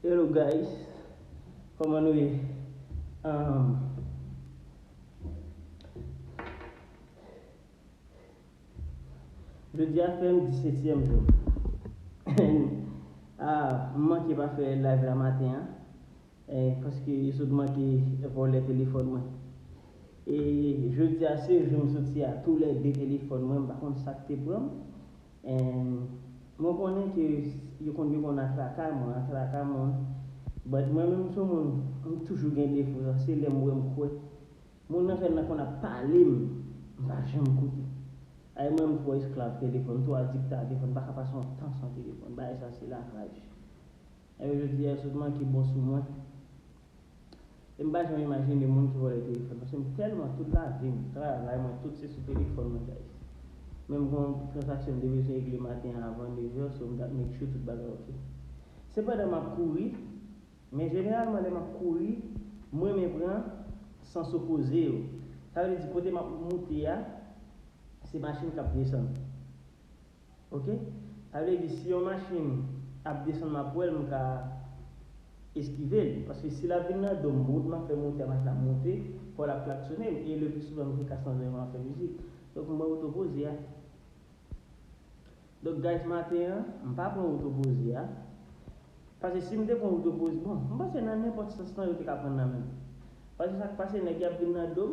Hello guys Koman nou ye Ahm Jodi a fèm disetyèm jou Anh Aah m manke pa fè live la maten an Anh paske sou t manke vòlè telefòn mwen E jodi a se jou m soti a tou lè 2 telefòn mwen m pa konn sak te pranm And mwen konnen ke yo konn yo konn atraka mwen atraka moun but mwen menm sou moun m toujou gen defo sa se lèm wèm kwè moun nan fè nan konn ap pale m m pa janm koute ay mwen m twò esklav telefòn m twò adikte a telefòn m paka pase yon tan san telefòn bagay sa se lakraj epi jodi a yo sot manke bon sou mwen. Em pa janm imajine moun ki vòlè telefòn paske m tèlman tout lavim, travay mwen tout se sou telefòn mwen guys. Men m gon transaksyon m te bezwen regle maten an avan 9 heures so m tap make sure tout bagay ok. Se pandan map kouri, men jeneralman lè map kouri m renmen pran sans opoze yo. Sa vle di kote map moute a se machin kap desann. ok sa vle di si yon machine ap desann map wèl m ka eskivel paske si lap vin nan dom wout map fè motè machine ap monte paw lap klaksone m e le plus souvan m gen kas nan zòrey map fè mizik donk m wè oto poze a donk guys maten an m pa pran oto poze a paske sim te pran oto poze bon m panse nan nenpòt sans lan yo te ka pran nan menm paske sak pase nèg yo ap vin nan dom.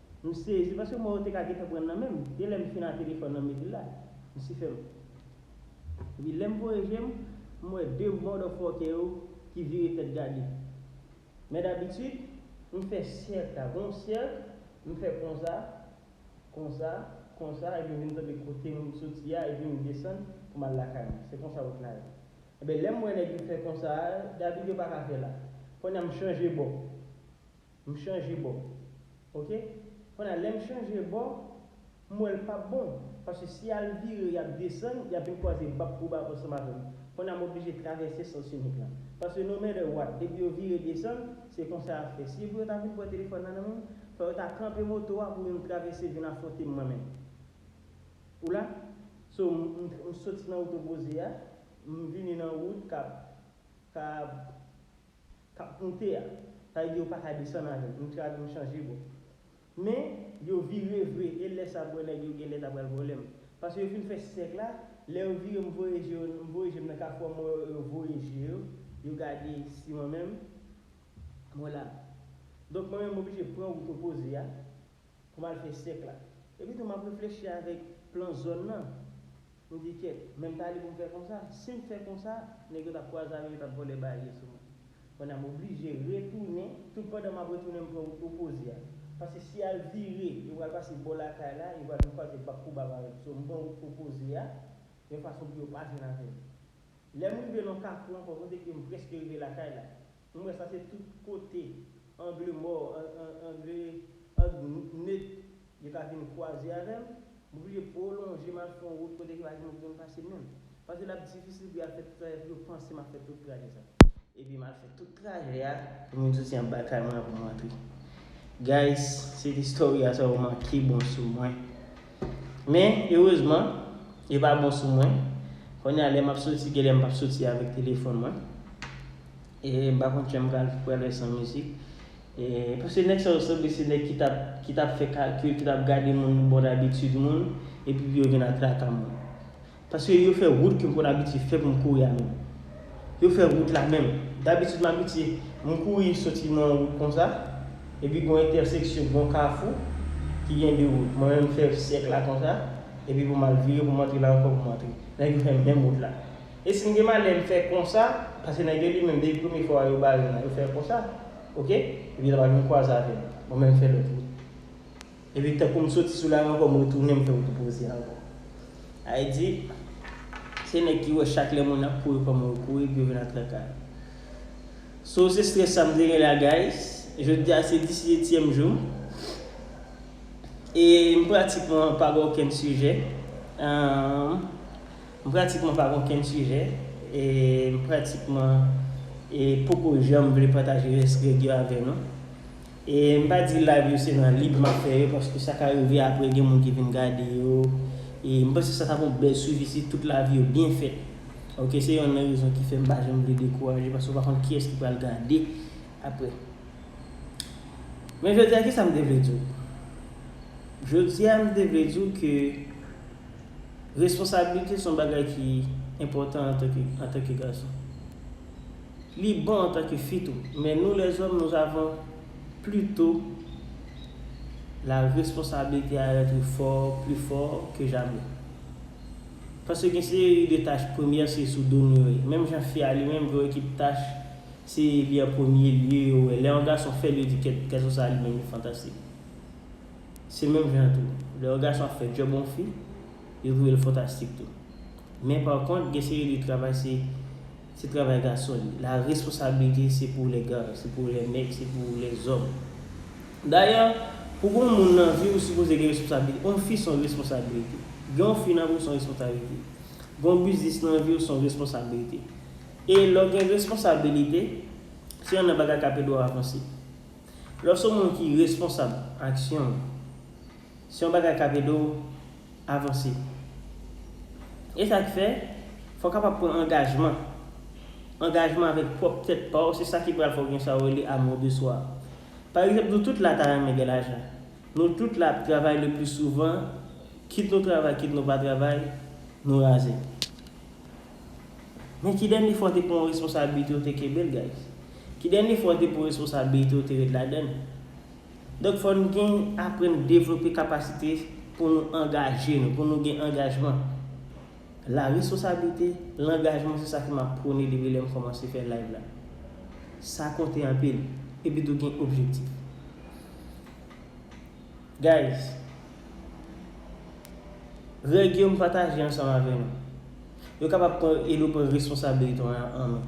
M sezi paske mo yo te ka gentan pran nan menm. Gen lè m fin a telefòn nan m mete l la. M si fèm. Epi lè m voye je m, m wè 2 mòdòfòkè yo ki vire tèt gade. Men dabitid, m fè sèk la. Gen yon sèk, m fè konsa, konsa, konsa epi m vin tonbe kote m soti a epi m desann pou m al lakay mwen. Se konsa wout la ye. Enben lè m wè nèg yo fè konsa a, dabitid yo pa ka fè la. Kounye a m chanje bò. M chanje bò ok Kon ya lèm chanje bò m wèl pap bon paske si yal vire yap desann yap vin kwaze bab pou bab ansanm avèm Kon ya m oblije travèse sens inik la paske no matter what depi yo vire desann se konsa yap fè si yo pou yo ta vin pran telefòn nan nan menm fò yo ta kanpe moto a pou vin travèse vin afwontem mwen menm ou la so m soti nan wout opoze a m vini nan wout kap ka. kap moute a sa vle di yo paka desann avèl nou travy nou chanje bò men yo vire vre e lè sa bwè nèg yo genlè ta pral vòlèm paske yo fin fè sèk la lè yo vire m voye je yo m voye jem nan kafou a m wè yo voye je yo yo gade si mwen menm mwen la donk mwen menm m oblije pran wout opoze a pou mal fè sèk la epitou map reflechi avèk plan zòn nan. M di kyèt, men m ta li pou m fè konsa. Si m fè konsa, nèg yo t ap kwaze avè m, yo t ap vòlè baye sou mwen. Konnya m oblije retounen, toutpandan m ap retounen m pran wout opoze a. Paske si al vire, yo pral pase bò lakay la, yo pral vin kwaze bab pou bab avè m. So m pran wout opoze a, yon fason pou yo pa jwenn avè m. Lè m rive nan yon kafou ankò kote ke m prèske rive lakay la, M wè sa se tout kote angle mò angle nèt yo ka vin kwaze avè m, m oblije pwolonje m al fè yon wout kote ki pa gen moun ki konn pase menm. Paske l ap difisil pou y al fè tout trajè pou yo panse m ap fè tout trajè sa. Epi m al fè tout trajè a pou m vin soti anba kay mwen an pou m antre. Guys, se t istorya sa yo manke bon sou mwen. Men, erezman, li pa bon sou mwen. Kounye a, lè m ap soti, gen lè m pa p soti avèk telefòn mwen. E m pa konn kijan m pral pral fè san mizik. E, paske nèg sa yo sanble se nèg ki t ap, ki t ap fè kalkil, ki t ap gade moun bò dabitid moun, epi pou yo vin ap traka moun. Paske yo fè wout ke m konn abitye fè pou m kouri a menm. Yo fè wout la menm. Dabitid m abitye, m kouri soti nan yon wout konsa, epi gon entèseksyon, gon kafou ki gen 2 wout. Mwen menm m fè sèk la konsa, epi pou m al vire pou m antre la ankò pou m antre. Nèg yo fè menm wout la. E si m gen malè m fè konsa, paske nèg yo li menm depi premye fwa yo bare m nan yo fè konsa, ok, epi lè m ap vin kwaze avè m, mwen menm m fè lòt wout. Epi tankou m soti sou la ri ankò m retounen m fè wout opoze a ankò. Ayi di, se nèg ki wè chak lè moun ap kouri kòman yo kouri epi yo vin atrakay. So se stress sa m te gen la guys, jodi a se 10 etyèm jou m. E m pratikman pa gen okenn sijè. M pratikman pa gen okenn sijè. E m pratikman poko janm vle pataje rès règ yo avè nou. E m pa di live yo se nan lib map fè yo paske sa ka rive aprè gen moun ki vin gade yo e m panse sa tap yon bèl swivi si tout live yo byen fèt ok se yonn nan rezon ki fè m pa janm vle dekouraje paske ou pa konn kiyès ki pral gade aprè men jodi a kisa m te vle di w jodi a m te vle di w ke Responsabilite son bagay ki enpòtan antanke gason. Li bon antanke fi tou, men nou lèzòm nou avon plito la responsabilite a etre fò, pli fò ke jamè. Paske gen seri de tach premyè se sou do nou yo ye. Menm jan fi a li menm gen yon ekip tach se li an premye lye yo wè. Lè yon gason fèl yo di kèt gason sa li menm li fantastik. Se menm jan an tou, lè yon gason ap fè djòb yon fi, yo voye l fantastik tou. Men pa kont, gen seri de travay se se travay gason li. La responsabilité c'est pour les gars, c'est pour les nèg, c'est pour les hommes. Dayè, pou gen yon moun nan vi ou sipoze gen responsabilité. Yon fi se yon responsabilité. Gen yon fi nan vi w se yon responsabilité. Gen yon biznis nan vi w se yon responsabilité. E lè w gen responsabilité, se yonn nan bagay k ap ede w avanse. Lè w se yon moun ki responsab aksyon w, se yon bagay k ap ede w avanse. E sa k fè, fò w kapab pran angajman. Angajman avèk pwòp tèt pa w, se sa ki pral fè w gen sa yo rele amour de soi. Pa egzanp, nou tout la ta renmen gen lajan. Nou tout la ap travay le pli souvan, kit nou travay kit nou pa travay, nou raze. Men ki dènye fwa w te pran yon responsabilite ou te kenbe l guys? Ki dènye fwa w te pran yon responsabilite ou te ret ladann? Donk fò n gen aprann devlope kapasite pou nou angaje nou, pou nou gen angajman. La responsabilite, langajman se sa ke map pwone depi lèm kòmanse fè live la. Sa konte anpil. Epitou gen objektif. Guys, règ yo m pataje ansanm avè nou. Yo kapab pran edo pran responsabilite an men.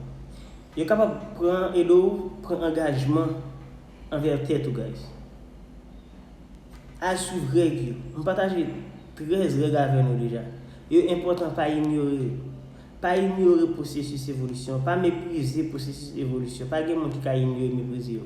Yo kapab pran edo ou pran angajman anvè tèt ou guys. Al swiv règ yo. M pataje 13 règ avè nou deja. Yo enpòtan pa inyore yo. Pa inyore pwosesis evolisyon, pa meprize pwosesis evolisyon. Pa gen moun ki ka inyore, meprize yo.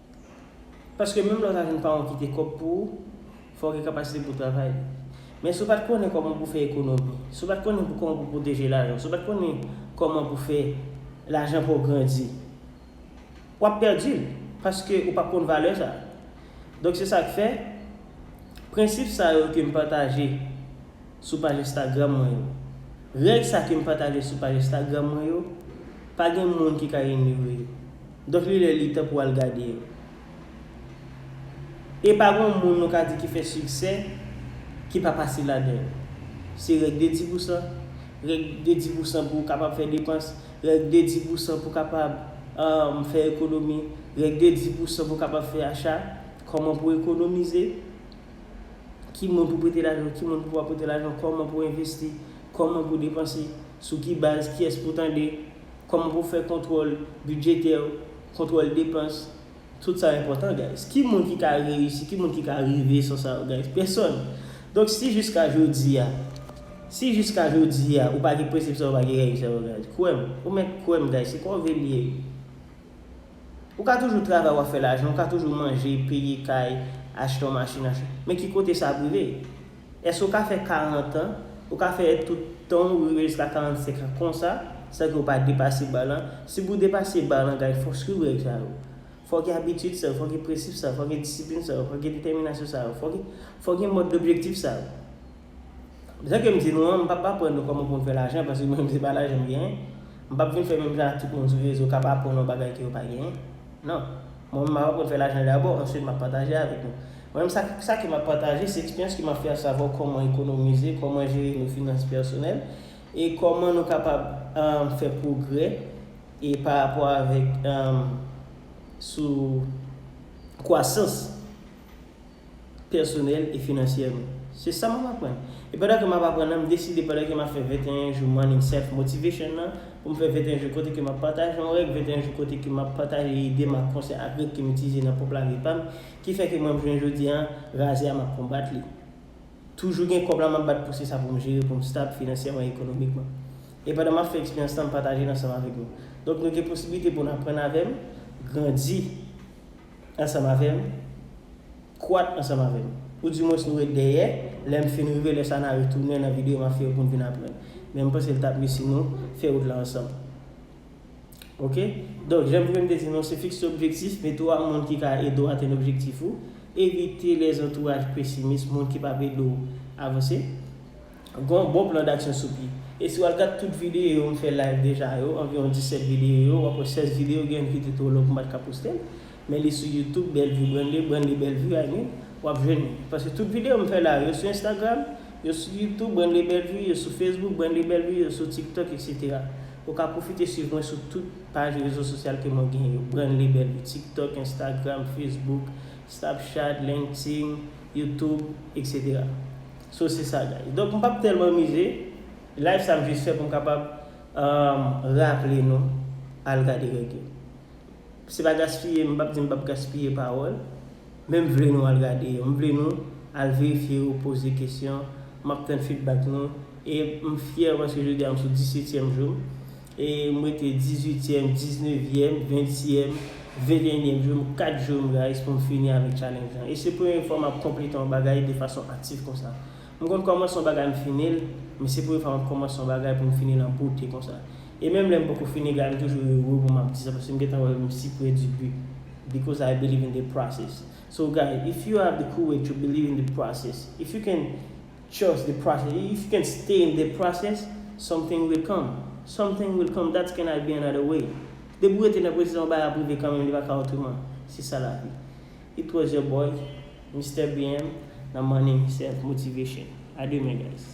Paske menm lè w ta jwenn paran w kite kòb pou ou, fò w gen kapasite pou w travay. Men si w pa t konnen kòman pou w fè ekonomi, si w pa t konnen pou kòman pou w pwoteje lajan w, si w pa t konnen kòman pou w fè lajan pa w grandi, w ap pèdi l, paske ou p ap konn valè sa. Donk se sa k fè, prensip sa yo ke m pataje sou paj Instagram mwen yo, règ sa ke m pataje sou paj Instagram mwen yo, pa gen moun ki ka inyore yo. Donk li lè li tan pou al gade yo. E pa gon moun nou ka di ki fè siksè ki pa pase ladan yo. Se règ de di pousan, règ de di pousan pou ou kapab fè depans, règ de di pousan pou kapab fè ekonomi, règ de di pousan pou kapab fè acha, kòman pou ekonomize, ki moun pou prete lajan, ki moun pou pa prete lajan, kòman pou envesti, kòman pou depanse, sou ki baz, kiyès pou tande, Kòman pou fè kontwòl bidjetè, kontwòl depans, tout sa enpòtan guys. Ki moun ki ka reyisi, ki moun ki ka rive sou sa yo guys? Pèsòn. Donk si jiska jodi a, si jiska jodi a ou pa gen prensip sa yo, ou pa gen règ sa yo guys, kwè m, ou mèt kwè m guys, se kòve l ye. Ou ka toujou travay wap fè lajan, ou ka toujou manje, peye kay, achte yon machin, achte, men ki kote sa ap rive? Èske ou ka fè 40 an, ou ka fè èd tout tan ou rive jiska 45 an konsa, san ke ou pa depase ba lan? Si pou depase ba lan gay fòk swiv règ sa yo. Fòk gen abitid sa yo, fòk gen prensip sa yo, fòk gen disiplin sa yo, fòk gen detèminasyon sa yo, fòk gen fòk gen mòd objektif sa yo. Jan ke m di nou an, m pap aprann nou kòman pou nou fè lajan paske mwen menm se pa lajan m genyen. M pap vin fè menm jan ak tout moun sou rezo kap aprann nou bagay ke yo pa genyen. Non. Mwen menm map aprann fè lajan dabò, answit map pataje avèk nou. Mwen menm sa sa ke m ap pataje se eksperyans ki m ap fè asavwa kòman ekonomize, kòman jere nou finans pèsonèl e kòman nou kapab fè pwogrè e pa rapò avèk sou kwasans pèsonèl e finansyè nou. Se sa m ap aprann. E pandan ke m ap aprann nan m deside pandan ke m ap fè 21 jou Morning Self Motivation nan pou m fè 21 jou kote ke m ap pataje yon règ 21 jou kote ke m ap pataje ide m ak konsèy ak règ ke m itilize nan pwòp lavi pa m Ki fè ke mwen m jwenn jodi an razè a map konbat li. Toujou gen kòb la map bat pou se sa pou m jere pou m stab finansyèman e ekonomikman. E pandan map fè eksperyans lan m pataje l ansanm avèk nou. Donk nou gen posibilite pou n aprann avè m, grandi ansanm avè m, kwat ansanm avè m. Ou di mwens nou ret dèyè, lè m fin rive lè sa na retounen nan videyo map fè yo pou n vin aprann. Men m panse l tap mieux si nou fè wout la ansanm. Ok donk janm vin te di nou se fikse objektif mete ou ak moun ki ka ede ou atenn objektif ou evite lè zantouraj pesimis moun ki pap ede ou avanse gen yon bon plan daksyon sou pye e si wal gad tout videyo yo m fè live deja yo anviwon 17 videyo yo wap wè 16 videyo gen youn ki te two long m pat ka postel Men li sou youtube Bellevue Brande Brande Bellevue I mean wap jwenn li paske tout video mfè la yo sou Instagram yo sou youtube Brande Bellevue yo sou Facebook Brande Bellevue yo sou tiktok etc ou ka profite swiv mwen sou tout paj rezo sosyal ke mwen gen yo Branle Bellevue tiktok Instagram Facebook Snapchat Linkedin youtube etc so se sa guys donk mpap telman mize live sa mjis fè poum kapab raple nou al gade règ yo. Se pa gaspiye, m pap di m pap gaspiye pawòl, men m vle nou al gade yo, m vle nou al verifye yo, poze kesyon, m ap tann fidbak nou, e m fyè paske jodi a m sou disetyèm jou m, e m rete dizuityèm, diznevyèm, ventyèm, ventennyèm jou m, 4 jou m guys pou m fini avèk challenge lan, e se premye fwa m ap konplete yon bagay de fason aktif konsa. M konn kòmanse yon bagay m fini l, men se premye fwa map kòmanse yon bagay pou m fini l an bote konsa. E menm lè m poko fini gade m toujou ere pou map di sa paske m gentan wè m si pre du but because I believe in the process. So guys if you have the courage to believe in the process, if you can trust the process, if you can stay in the process, something will come, something will come that cannot be another way. Depi w rete nan pwosè yon bagay ap rive kanmenm li pa ka otreman. Se sa lavi. Li tro jè boy. Mister BM nan morning self motivation. A demen guys.